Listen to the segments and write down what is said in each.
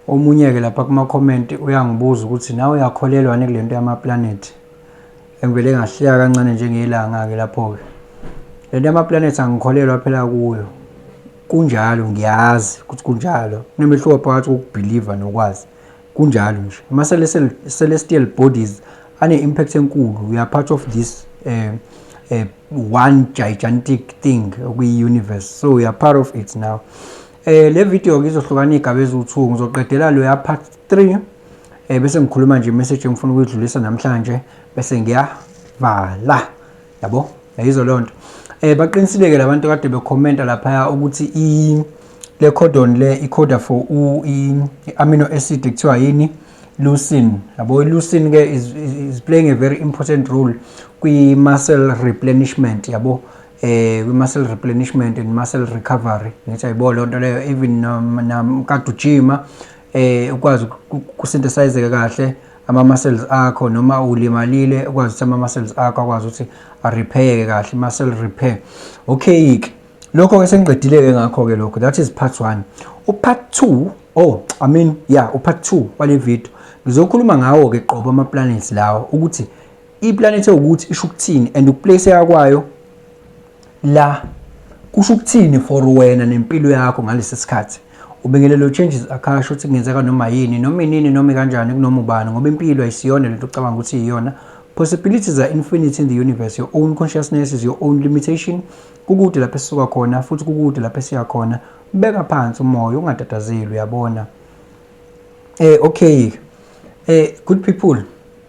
Omunye ke lapha kuma comment uyangibuza ukuthi nawe uyakholelwa yini kulento yama planet engivele ngahleka kancane njengelanga ke lapho ke lento yama planet angikholelwa phela kuyo kunjalo ngiyazi ukuthi kunjalo kunemehluko phakathi kokubelieve nokwazi kunjalo nje ama celestial bodies ane impact enkulu we are part of this eh uh, one gigantic thing okuyi universe so we are part of it now Eh le video ke izohlukana igaba eziwu2 ngizoqedela lo ya part 3 eh bese ngikhuluma nje message engifuna ukuyidlulisa namhlanje bese ngiyavala yabo yayizo lonto eh baqinisileke labantu kade bekhomenta lapha ukuthi i le codon le i coda for u i amino acid kuthiwa yini leucine yabo leucine ke is, is playing a very important role kwi muscle replenishment yabo eh kwi-muscle replenishment and muscle recovery ngithi ayibo loo nto leyo even namkade ujima eh ukwazi ukusynthesizeka kahle ama-muscles akho noma ulimalile ukwazi ukuthi ama-muscles akho akwazi ukuthi arepheyeke kahle muscle repair okay-ke lokho-ke sengiqedile-ke ngakho-ke lokho that is part one upart two oh i mean ya yeah, upart two wale video ngizokhuluma ngawo-ke qobo ama-planets lawo ukuthi iplanethi ewukuthi isho ukuthini and ukuplaceka kwayo la kusho ukuthini for wena nempilo yakho ngalesi sikhathi ubingelelo changes akasho ukuthi kungenzeka noma yini noma inini noma kanjani kunoma ubani ngoba impilo ayisiyona lento ocabanga ukuthi iyona possibilities are infinite in the universe your own consciousness is your own limitation kukude lapho esisuka khona futhi kukude lapho esiya khona beka phansi umoya ungatatazeli uyabona eh okay eh good people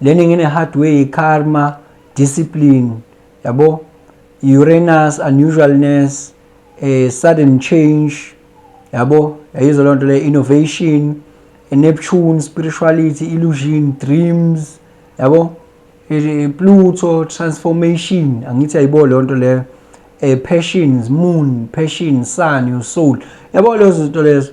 Learning in a hard way, karma, discipline, yabo, Uranus, unusualness, a sudden change, yabo, yayizwa loo nto le innovation, a Neptune, spirituality, illusion, dreams, yabo, Pluto, transformation, angithi ayibo loo nto leyo, a passions, moon, passion, sun, your soul, yabo lezo zinto lezo.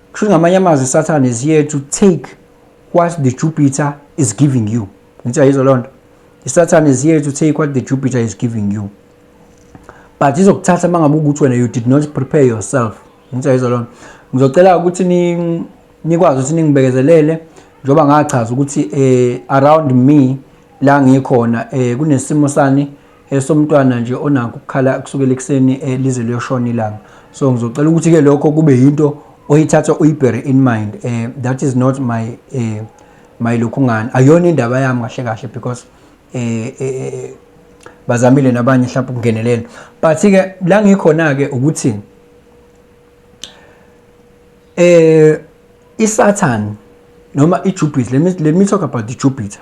Kusho ngamanye amazwi Satan is here to take what the Jupiter is giving you. Ngithi ayizwa lonto. Satan is here to take what the Jupiter is giving you. But izokuthatha mangabe ukuthi wena you did not prepare yourself. Ngithi ayizwa lonto. Ngizocela ukuthi ni nikwazi ukuthi ningibekezelele njengoba ngachaza ukuthi eh around me la ngikhona eh kunesimo sani esomntwana nje onakho ukukhala kusukela ekuseni eh, lize liyoshona ilanga so ngizocela ukuthi ke lokho kube yinto oyithatha uyibhere in mind eh that is not my eh my lokhungani ayona indaba yami kahle kahle because eh, eh, eh, eh bazamile nabanye mhlawumbe ukungenelela but ke la ngikhona ke ukuthi eh isatan noma ijupiter let me let me talk about the jupiter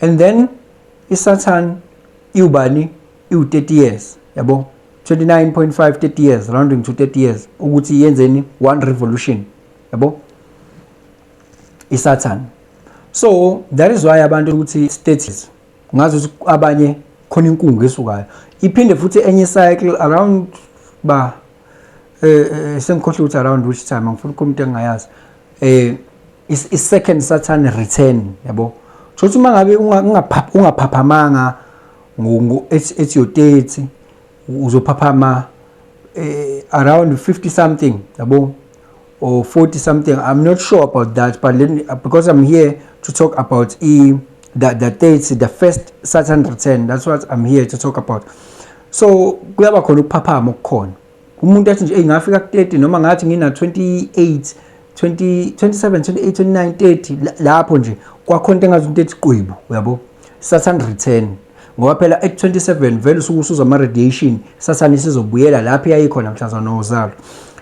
and then isathane iwubani iwu-30 years yabo 29.5 30 years rounding to 30 years ukuthi yenzeni one revolution yabo isathane so that is why abantu ukuthi status ngazi ukuthi abanye khona inkungu esukayo iphinde futhi enye cycle around ba eh, eh sengikhohle ukuthi around which time ngifuna ukukhuluma into engingayazi eh i-second saturn return yabo kusho ukuthi uma ngabe ungaphaphamanga ethi yo-30 uzophaphama eh, around 50 something yabo or 40 something i'm not sure about that but let me, because i'm here to talk about e the, the dates the first saturn return that's what i'm here to talk about so kuyaba khona ukuphaphama okukhona umuntu athi nje engafika ku-30 noma ngathi ngina 28 20 27 28 29 30 lapho nje kwakhona into engazi into ethi qwibu uyabo saturn return ngoba phela at 27 vele usuke usuza ama radiation saturn isizobuyela lapho yayikhona mhlazana nozalo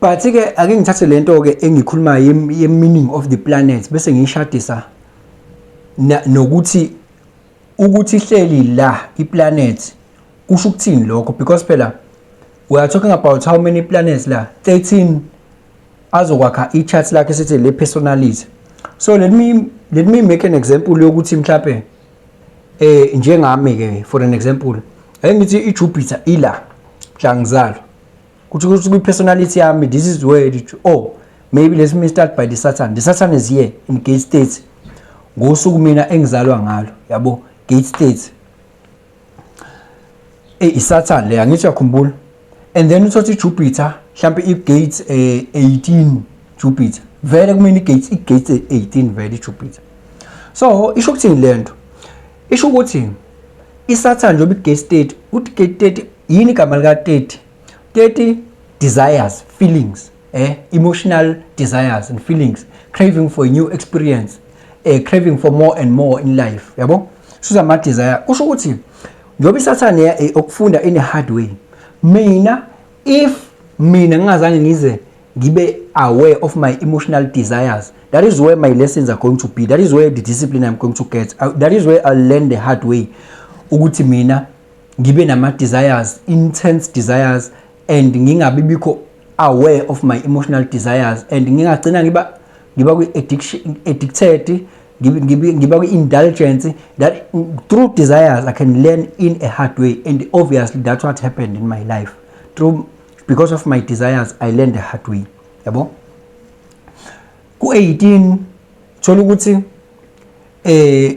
but ke ake ngithathe lento ke engikhuluma ye meaning of the planet bese ngiyishadisa nokuthi ukuthi ihleli la iplanet kusho ukuthini lokho because phela we are talking about how many planets la 13 azokwakha i-chart lakhe sithi le personality so let me let me make an example yokuthi mhlawumbe eh njengami ke for an example ayengithi i-Jupiter ila mhlangizalo kuthi kuthi kwi personality yami this is where it oh maybe let me start by the satan the satan is here in gate state ngosuku mina engizalwa ngalo yabo gate state e eh, isatan le angithi yakhumbula and then uthothi jupiter mhlambe i gate 18 eh, jupiter vele kumina igate igate 18 vele ijupiter so isho ukuthini lento isho ukuthi isathane njengoba i-gate state uthi i-gate state yini igama lika 30 30 desires feelings eh emotional desires and feelings craving for a new experience eh craving for more and more in life yabo suza ama desire kusho ukuthi njengoba isathane ya eh, okufunda in a hard way mina if mina ngingazange ngize ngibe aware of my emotional desires that is where my lessons are going to be that is where the discipline i'm going to get that is where i learn the hard way ukuthi mina ngibe nama desires intense desires and ngingabi bikho aware of my emotional desires and ngingagcina ngiba ngiba kwi addiction addicted ngiba ngiba kwi indulgence that through desires i can learn in a hard way and obviously that's what happened in my life through because of my desires i learned the hard way yabo ku 18 thola ukuthi eh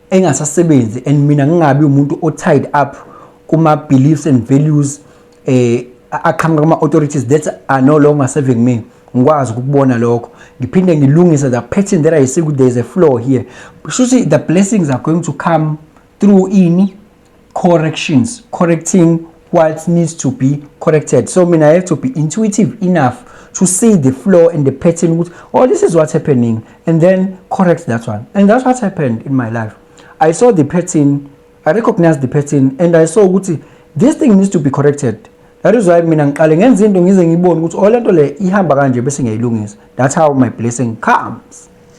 engasasebenzi and mina ngingabi umuntu o tied up kuma beliefs and values eh aqhamuka kuma authorities that are no longer serving me ngikwazi ukubona lokho ngiphinde ngilungise the pattern that i see there is a flaw here shuthi the blessings are going to come through ini corrections correcting what needs to be corrected so mina i have to be intuitive enough to see the flow and the pattern ukuthi oh this is what's happening and then correct that one and that's what happened in my life i saw the pattern i recognized the pattern and i saw ukuthi this thing needs to be corrected that is why mina ngiqale ngenza into ngize ngibone ukuthi oh lento le ihamba kanje bese ngiyayilungisa that's how my blessing comes